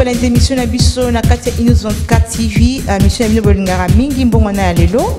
balanzi émission na biso na kati ya inos 24 tv euh, mission ya bino bolingaka mingi mbongwana ya lelo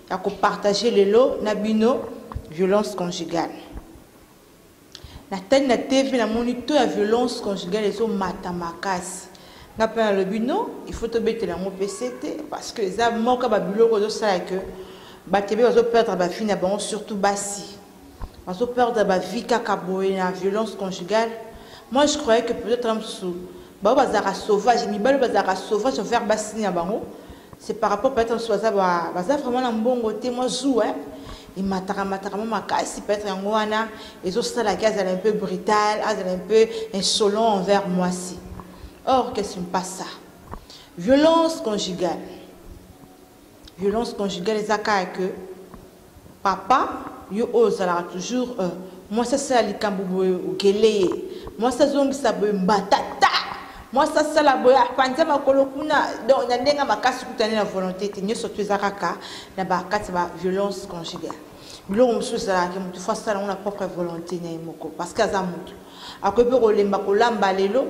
ya ko partager lelo na bino violence conjugale natali na tv namoni to ya violence conjugale ezomata makasi nga mpe nalobi no il faut tobetela yango mpe se te parce que eza moko ya babiloko ezosala ke bato ebe bazoperdre bafille na bango surtout basi bazo perdre ba vie kaka boye na violence conjugale moi je croyais que peut-être na mosusu bango bazalaka sauvage mibali bazalaka sauvage envers basini na bango c'est par rapport peut-être mosusu baza baza vraiment na mbongo te mwa zu eh? emataka mataka mwa makasi peut-être yango wana ezosalaki azala un peu brutal azala un peu insolent envers mwasi or que ce n'est pas ça violence conjugale violence conjugale eza kaka que Papa yo oyo ozalaka toujours euh, mwasi asala likambo boye okele ye mwasi azongisa boye mbata ta mwasi asala boye apanza makolo kuna donc na ndenge makasi kutani na volonté te nyonso to eza kaka na bakati ba violence conjugale biloko mosusu ezalaki motu fo asala yango na propre volonté na ye moko parce que aza motu akoki mpe kolemba kolamba lelo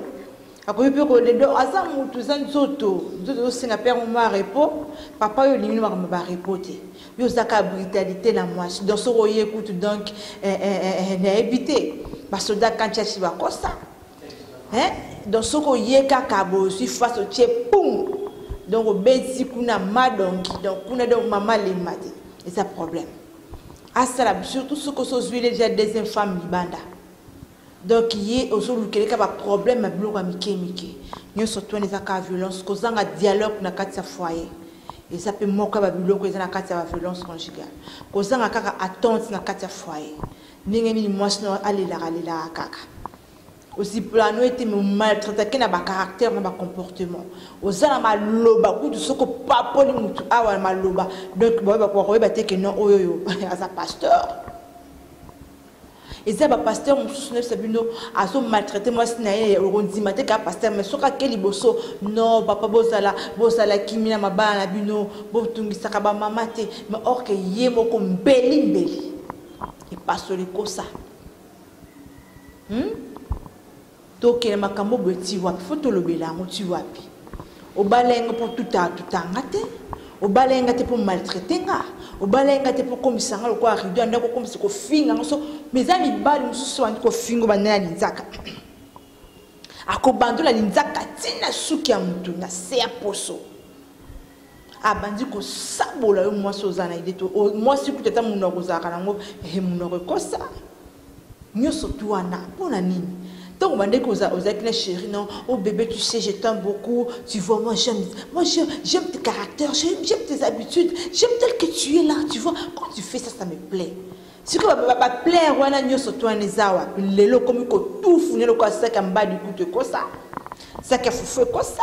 akomi mpe koledo aza motu eza nzoto nzoto ezosenga père moma repo papa oyo olingi makambo ba repo te yo ozaka brutalité na mwasi donc soki oye kutu donc eh, eh, eh, nayebi te basoda kantiachi bakosa donc soki oye kaka bozwi face otie pum donc obeti kuna madongi donc kuna donc mama lemba te eza problème asala surtout soki osi ozwile deja deuxième femme libanda donc ye ozolukela kaka ba problème ya biloko ya mike mike nyonso twana eza kaka violence kozanga dialogue na kati ya foyer eza mpe moko ya babiloko eza na kati ya baviolence conjugale kozanga kaka attente na kati ya foyer ndenge nini mwasi no alelaka alelaka kaka ozipulano ete maltraitake na bacaractère na bacomportement oza na maloba kutu soki opapoli motu awa na maloba donc bakoyeba te ke non oyo oyo aza pasteur eza ba pasteur mosusu nayebisa bino azo maltraite mwasi na ye okondima te kaka pasteur mais soki ake liboso no papa bozala bozala kimi na mabala na bino botungisaka bamama te mais orke ye moko mbeli mbeli epasoli kosa hmm? Tokende makambo boye ti wapi? Faut tolobela yango ti wapi? Obalai nga mpo tuta tuta nga te, obalai nga te mpo maltraite nga, obalai nga te mpo komisa nga lokola rido ya ndako komisa kofinga nga so mais eza mibali mosusu bandi kofingo banda na linzaka akobandola linzaka ti na suki ya motu na se ya poso abandi kosabola yo mwasi oza na ide to mwasi kutu ata monoko kozalaka nango he monoko ekosa nyonso tu wana mpo na nini ntango obandaki ozalaki na chéri non o oh bébé tu sais je t'aime beaucoup tu vois moi j'aime moi j'aime tes caractères j'aime tes habitudes j'aime tel que tu es là tu vois quand tu fais ça ça me plaît sikoyo baplaire wana nyonso tu wana eza wapi lelo okomi kotufu nde lokola saki ya mbadi kutu ekosa saki ya fufu ekosa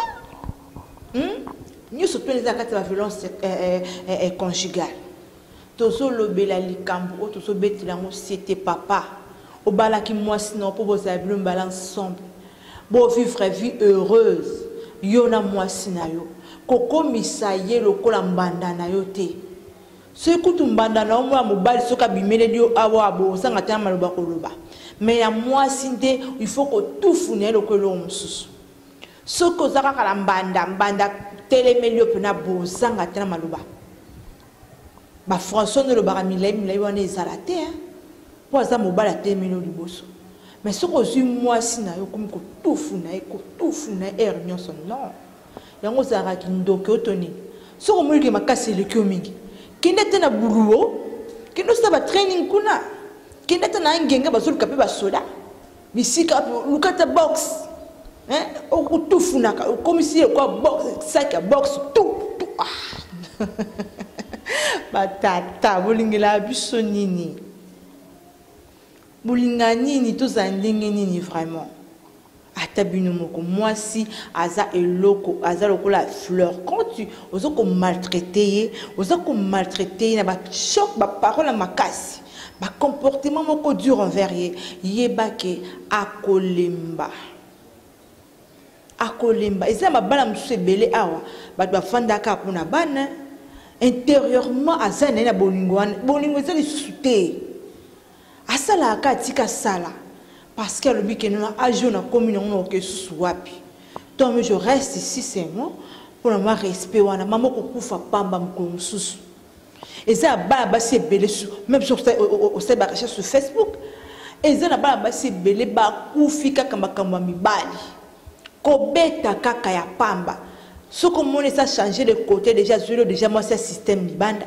hmm? nyonso mpe eza na kati ya baviolence eh, eh, eh, conjugale tozolobela likambo oyo tozobetela yango sete papa obalaki mwasi na yo mpo bozala bino mbala ensemble bovivre vie heureuse yo na mwasi na yo kokomisa ye lokola mbanda na yo te soki kutu mbanda na yo mwana mobali soki abimeleli yo awa bozanga te na maloba koloba me ya mwasi nde il faut kotufu na ye lokola eloko mosusu soki oza kaka na mbanda mbanda telemeli yo mpena bozanga te na maloba bafrançois nde olobaka milai milai wana ezala te mpo aza mobali atelemeli yo liboso me soki ozwi mwasi na yo okomi kotufu na ye kotufu na ye ere nyonso non yango ozalaka kindoki oto nini soki omonike makasi eleki yo mingi kende te na buluo kende osala batraining kuna kende te na angenge bazoluka mpe basoda bisika luka ata box hein? okotufunaka okomisi ye kwa box sac ya box tu tu ah. batata bolingela biso nini bolinga nini tozala ndenge nini vraiment ata bino moko mwasi aza eloko aza lokola fleur quand tu oza komaltraite ye oza komaltraite ye na bachoc baparole ya makasi ba comportement moko dur envers ye yeba ke akolemba akolemba eza mabala mosusu ebele awa bato bafandaka mpo na bana intérieurement aza na ye na bolingo wana bolingo eza lisusu te asalaka ka atika asala parce que alobi ke nona age oyo nakomi nango nakoka lisusu wapi tome je reste ici seulement mpo na mwa respect wana mama okokufa pamba mokolo mosusu eza ya bana basi ebele meme soki osali barecherche sur facebook eza na bana basi ebele bakufi kaka makambo ya mibali kobeta kaka ya pamba soki omoni esa change de côté déjà azweli déjà mwasi ya système libanda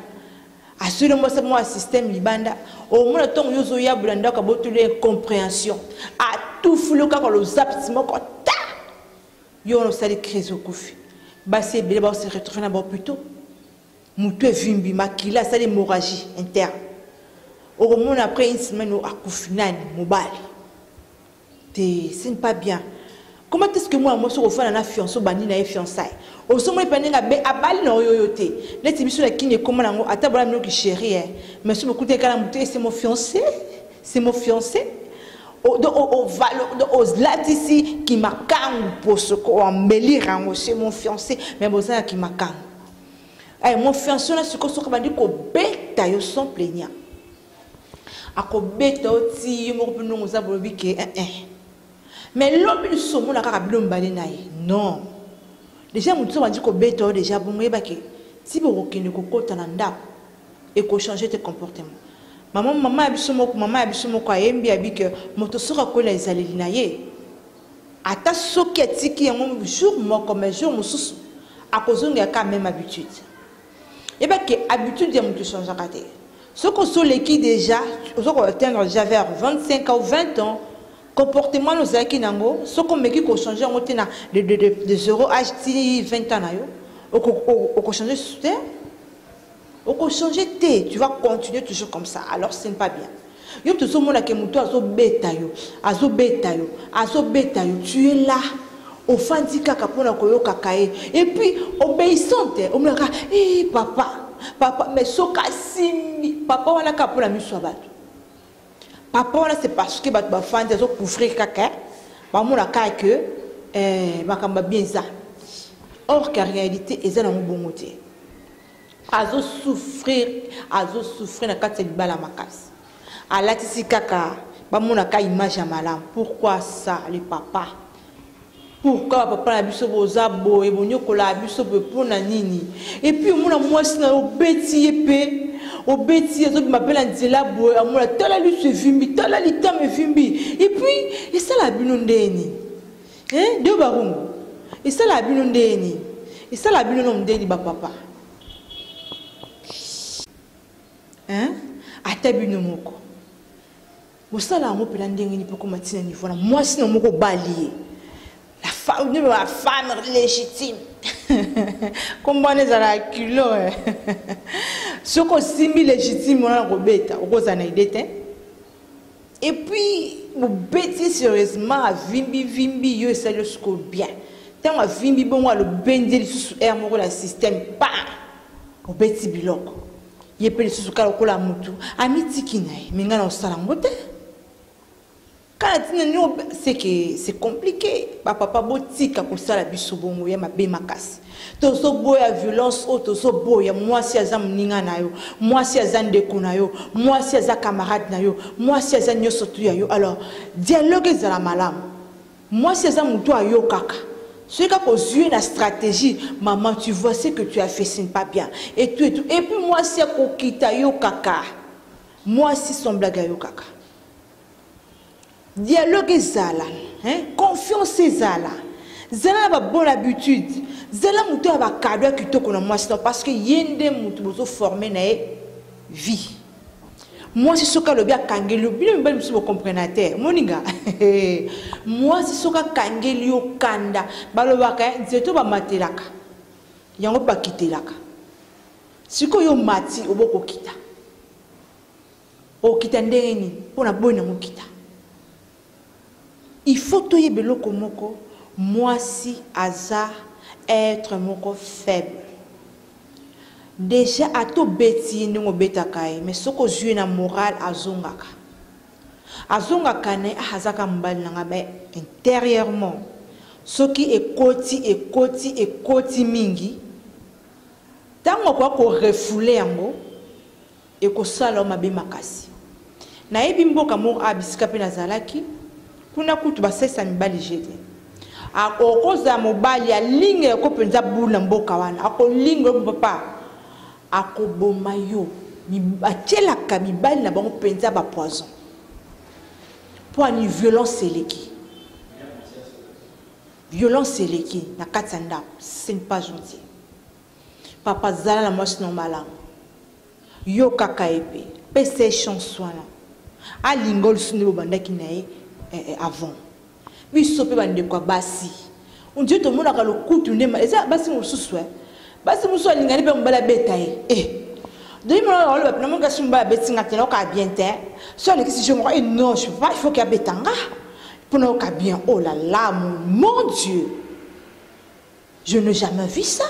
asweli mwasi mwa ya système libanda omona ntongo yo ozoyabola ndako abotoli incomprehension atufuli yo kaka lozapiti moko ta yo wana osali crise okufi basi ebele baose retrouve na baopito mutu evimbi makila asali hemorragie interne okomona après une semaine oyo akufi nani mobali te ce n'est pas bien comment est ce que mwana mwasi okofana na fiance obandi na ye fiançaille osomoli mpe ndenge abe abali na oyo oyo te neti biso na kini ekoma na yango ata bana minoki chéri e mais soki bokuta ekala moto ese mo fiancé se mo fiancé olatisi kimakangu mposo koambelire yango se mo fiancé mais bozala kimakangu eh, mon fiance wana sikoyo soki abandi kobeta yo sans plaignant akobeta yo ti yo moko mpe ndongo oza bolobi ke eh, eh. mais lobi lisusu omona kaka bino mibale na ye non deja motu so bandi kobeta yo deja bongo yeba ke ti bokokende kokota na ndako ekochange te comportement mama mama ya biso moko mama ya biso moko ayembi abi ke moto soki akweli na ezaleli na ye Ata soki atiki yango jour moko mais jour mosusu akozongela ka même habitude. Yeba ke habitude ya moto echangeaka te. Soki osoleki déjà ozo ko atteindre déjà vers 25 ans ou 20 ans comportement na ozalaki nango soki omeki kochanger yango te na de, de, de, de zero age ti 20 ans na yo okochange lisusu te oko change te tu vas continuer toujours comme ça alors ce n'est pas bien yo tozomona ke moto azobeta yo azobeta yo azobeta yo tu es là ofandi kaka mpo na koyokaka ye epuis obeissante omonaka e eh, papa papa mais soki asimbi papa wana kaka mpo na miso ya bato papa wana c'est parce que bato bafandi azocouvrir kaka eh. bamona kaka ke eh, makambo ya bien eza or ke réalité eza nango bongo te azo souffrir azo souffrir na kati ya libala makasi alatisi kaka bamonaka image ya malamu pourquoi ça le papa pourquoi papa na biso boza boye bonyokola biso boye mpo na nini epuis omona mwasi na yo obeti ye mpe obeti azobima mpe na nzela boye amona tala liso evimbi tala litama evimbi epuis esala bino ndeni Hein, deux barumbu. Et ça la bino ndeni. Et ça la bino nom ndeni ba papa. Hein? Ata bino moko. Bosala yango pela ndenge ni poko matina niveau na mwasi na moko balie. La femme, de la femme légitime. Comment les à la culot. Ce qu'on simbi légitime on a robeta, on a idée Et puis mobeti ye sérieusement avimbi vimbi yo esali yo sikoyo bien ntango avimbi bongo alobendi ye lisusu aire moko na système pa obeti biloko ye mpe lisusu kaka lokola motu amitiki na ye me ngai na osala yango te kala ntina nio seke c'est compliqué bapapa botika kosala biso bongo ya mabe makasi tozoboya violence oyo tozoboya mwasi aza moninga na yo mwasi aza ndeko na yo mwasi aza camarade na yo mwasi aza nyonso tu ya yo alors dialogue ezala malamu mwasi aza motu ayokaka soki kaka ozwi na stratégie maman tu vois ce que tu as fait ce n'est pas bien et tout et tout et puis mwasi akokita yokaka mwasi son blague ayokaka Dialogue ezala, hein? confiance ezala. Zala na ba bonne habitude. Zala moto ya ba cadeau ya kitoko na mwasi na parce que ye nde moto bozo former na ye vie. Mwasi soki alobi akangeli yo, bino mibali mosusu bokomprena te. Moninga, mwasi soki akangeli yo kanda, balobaka eh, nzeto bamatelaka, yango bakitelaka. Sikoyo yo mati obokokita. okita ndenge nini mpo na boyi nango okita il faut toyeba eloko moko mwasi aza être moko faible deja ata obeti ye ndenge obetaka ye mais soki ozwi ye na morale azongaka azongaka na ye ah, azaka mobali na ngai mais intérieurement soki ekoti ekoti ekoti mingi ntango akoya korefoule yango Ekosala yo mabe makasi. Nayebi mboka moko awa bisika mpe nazalaki, kuna kutu basalisa mibali je te. Akokozala mobali alinga yoko mpenza bulu na mboka wana, akolinga yo papa, akoboma yo. Batyelaka mibali na bango mpenza bapoison mpo ani violence eleki violence eleki na kati ya ndako ce n'est pas gentil Papa zala na mwasi na yo malamu. Yokaka ye pe. Pesa ye chance wana. Alinga olusu nde bobandaki na ye eh, eh, avant. Biso pe bandeko ya basi. On dirait tomonaka lokutu nde eza basi mosusu eh. Basi mosusu alingani pe mobali abeta ye. Eh. Denis Mwana oloba pena mon kasi mbala beti nga tena ka bien te. So ni kisi jongo et non je pas il faut qu'il betanga. Pona ka bien oh là là mon, mon Dieu. Je n'ai jamais vu ça.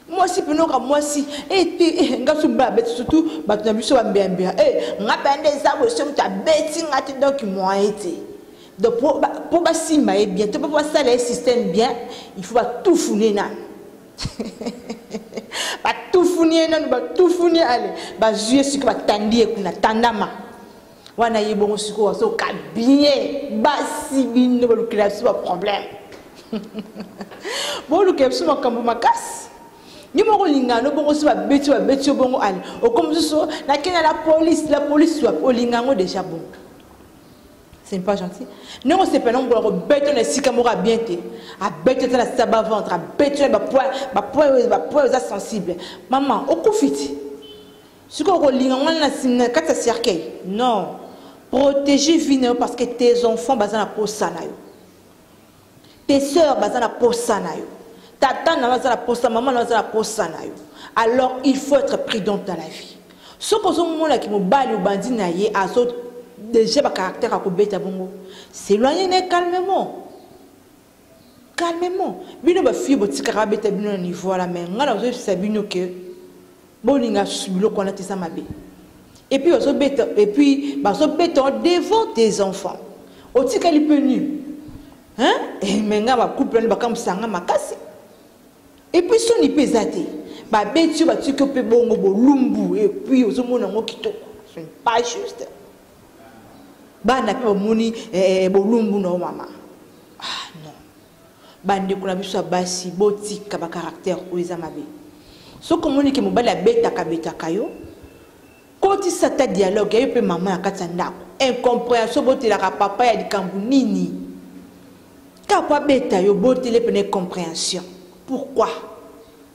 mwasi mpe noka mwasi ete eh, eh, nga so mibala abeti surtout bato na biso bambeambea e eh, nga mpe nde eza boye so moto abeti nga te donc moyen te donc mpo basimba ye bien to mpo basala ye système bien il faut batufune nanu batufuni ye nanu batufuni ale bazwi ye siko batandi ye kuna tandama wana ye bongo sikoyo azoka bien basi bino balukela biso baproblème bolukela biso makambo makasi ye moko olingana no bongo so babeti babeti yo bongo ale okomi mosusu nakenda la police la police wapi olinga yango déjà bongo c'est pas gentil ndenge osepela nango bola kobeta na esika moko abien te abeti ata na saba ventre abeti na bapoint bapoint oyo eza sensible mama okufi ti sikoyo okolinga ngai na na kati ya cercueil non protéger vie na yo parce que tes enfants baza na posa na yo tes sœurs baza na posa na yo tata na yo aza na posa mama na yo aza na posa na yo alors il faut être prudente dans la vie soki ozomonaki mobali obandi na ye azo déjà bacaractère akobeta bongo s'éloigne ne calmement calmement bino bafille botikaka abeta bino na niveau wana mai ngai nazoyebisa bino ke bolinga susu biloko wana te eza mabe epuis bazobeta epuis bazobeta devant tes enfants otikali mpe nu eh, mai ngai bacouple wana bakamwisa ngai makasi epuis soni mpe eza te babeti yo batiki yo mpe bongo bolumbu epuis ozomona yango kitoko pas juste bana mpe bamoni eh, eh, bolumbu na yo mama ah non bandeko na biso ya basi botika bacaractère oyo eza mabe soki omoni ke mobali abetaka betaka yo kotisa ata dialogue yayo mpe mama na kati ya ndako incomprehension botelaka papa ya likambo nini kaka abeta yo botele mpena incomprehension pourquoi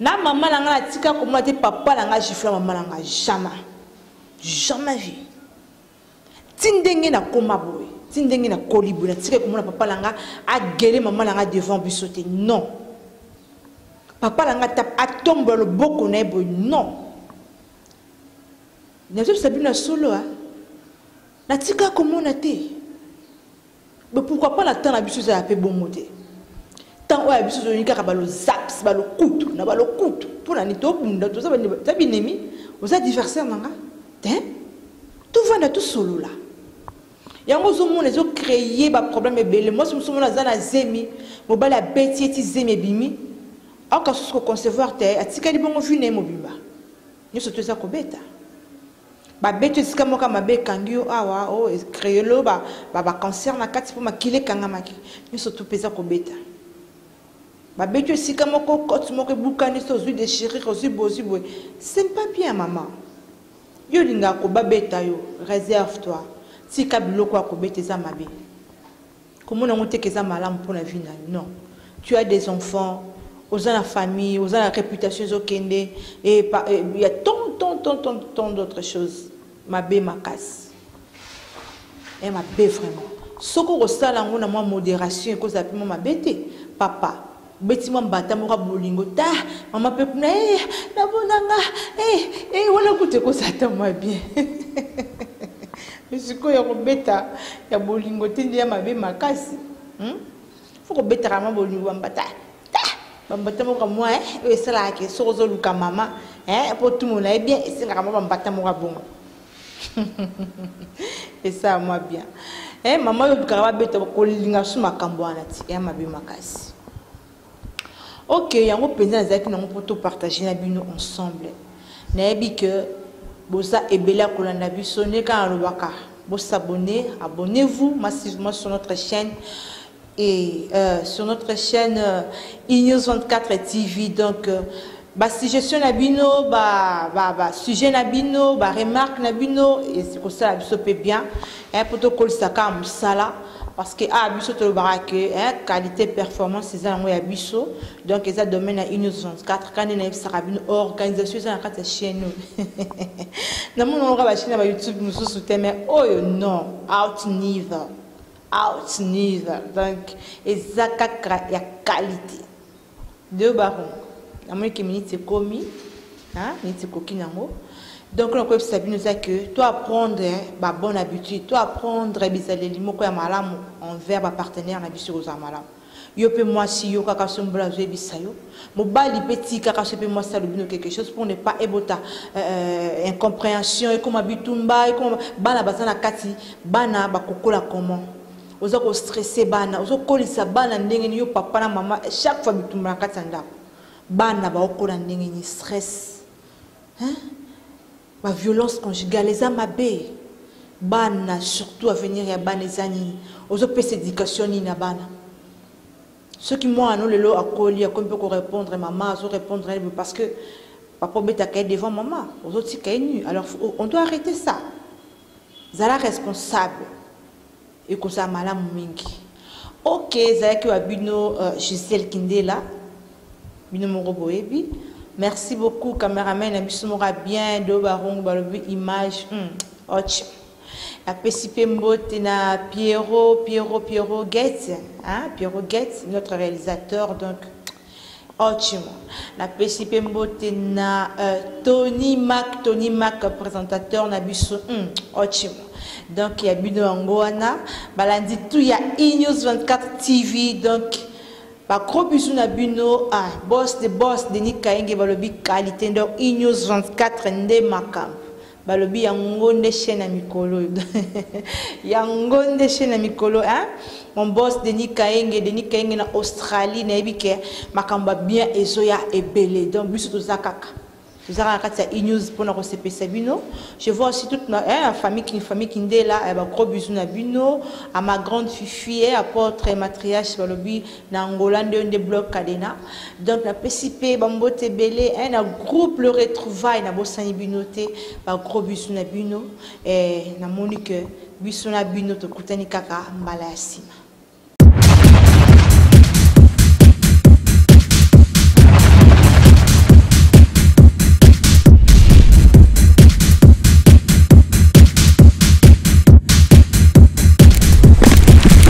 na mama na nga na tika komona te papa na nga gifla mama na nga jamais jamais vie ti ndenge nakoma boye ti ndenge nakoli boye natikaki komona papa na nga agele mama na nga devant biso te non papa na nga atombola loboko na ye boye non nazobisa bino ya solo a natika komona te Mais pourquoi pas na temps na biso ezala pe bongo te. Temps oyo ya biso tozongi kaka ba lozaps, ba lokutu, na ba lokutu. Pona ni to bunda toza ba za binemi, oza diversaire nanga. Hein? To vanda to solola. Yango zo mona zo créer ba problème ebele. Moi somo somo na za na zemi, mobali abeti eti zemi ebimi. Aka susu ko concevoir te, atikali bongo vie na ye mobimba. Nyoso to eza kobeta. babeti esika moko ya mabe ekangi yo awa o oh, creolo babacancer na kati mpo makili ekangamaki nyonso tu mpe eza kobeta babeti yo esika moko cote moko ebukani so ozwi dechirure ozwi bozwi boye c'est pas bien mama yo olingaka kobabeta yo reserve toi tika biloko ya kobeta eza mabe Komona ngo te ke eza malamu mpo na vie na yo non tu as des enfants oza na famille oza na reputation ezokende et eh, pa, eh, ya tant tant tant tant tant d'autres choses mabe makasi e eh, mabe vraiment soki okosala yango na mwa modération ekozala mpe mwa mabe te papa beti mwa mbata moko ya bolingo ta mama mpe kuna e namonanga e eh, e eh, wana kutu ekoza ata mwa bien sikoyo ya kobeta ya bolingo te nde ya mabe makasi hmm? fo kobetaka mwa bolingo ya mbata ta bambata moko mwa eh, oyo esalaka ke soki ozoluka mama mpo otumona ye bien esengaka mwa bambata moko ya bongo esala mwa bien eh, mama oyo olukaka babeta kolinga su makambo wana ti ya eh, mabe makasi ok yango mpenza nazalaki nango mpo topartage na bino ensemble nayebi ke boza ebele ya kolanda biso ndenge kaka nalobaka bosabone abonnez-vous massivement sur notre chaîne Et euh, sur notre chaîne euh, Inews 24 TV, donc euh, ba suggestion na bino, ba, ba, ba sujet na bino, ba remarque na bino, et c'est comme ça, biso peut bien, hein, pour tout kolisa ka musala, parce que ah biso to bara que hein, qualité performance c'est ça ya biso, donc eza domaine à Inews 24, quand na sera bino organisation eza na kati chez nous. na mon on va ba chaîne ba YouTube mususu te mais oh non, out neither. Ouch Niva, donc eza kaka ya qualité. Deux barons. Namoni ke minute ekomi, hein, minute ekoki nango. Donc na koyebisa bino eza que to apprendre ba bonne habitude, to apprendre bizaleli moko ya malamu envers ba partenaires na biso kozala malamu. Yo pe mwasi yokaka soki mobali azoyebisa yo mobali pe tikaka soki pe mwasi alobi no quelque chose pour ne pas ebota euh, incomprehension ekoma bitumba ekoma bana baza na kati bana bakokola comment oza kostresse bana ozokolisa bana ndenge nini yo papa na mama chaque fois bitumba na kati ya ndako bana baokola ndenge nini stress hein? Ba violence conjugale eza mabe. Bana surtout avenir ya bana eza nini? Ozo pesa education nini na bana? Soki mwana no lelo akoli akomi pe ko répondre maman azo répondre na parce que papa obetaka ye devant maman ozo tika ye nu alors on doit arrêter ça. Zala responsable. Ekozala malamu mingi. Ok ezalaki wa bino Gisèle kindela bino moko boyebi merci beaucoup cameraman na biso moko ya bien do barungu balobi image hmm. och napesi mpe mbote na Pierrot Pierrot Pierrot Gates hein Pierrot Gates notre réalisateur donc Ochimo. Na pesi pe mbote na euh, Tony Mac, Tony Mac présentateur na biso. Hmm, ochimo. Donc ya bino yango wana balandi tout ya E News 24 TV donc ba gros bisous na bino ah boss de boss Denis Kaenge balobi qualité donc E News 24 nde makambo. balobi yango nde chaîne ya mikolo oyo yango nde chaîne ya mikolo hein? mon boss denis kaenge denis kaenge na australie nayebi ke makambo ya bien ezoya ebele donc biso toza kaka toza kaka kati ya enews mpona kosepesa bino je vois aussi toute ma hein, famille king famille kindela ya bagros bisu na bino à ma grande fifi e apôtre matriache balobi na Angola nde nde bloc cadena donc na pesi pe ba mbote belé hein na groupe le retrouvaille na bosani bino te ba gros bisous na bino eh na moni que biso na bino tokutani kaka mbala ya sima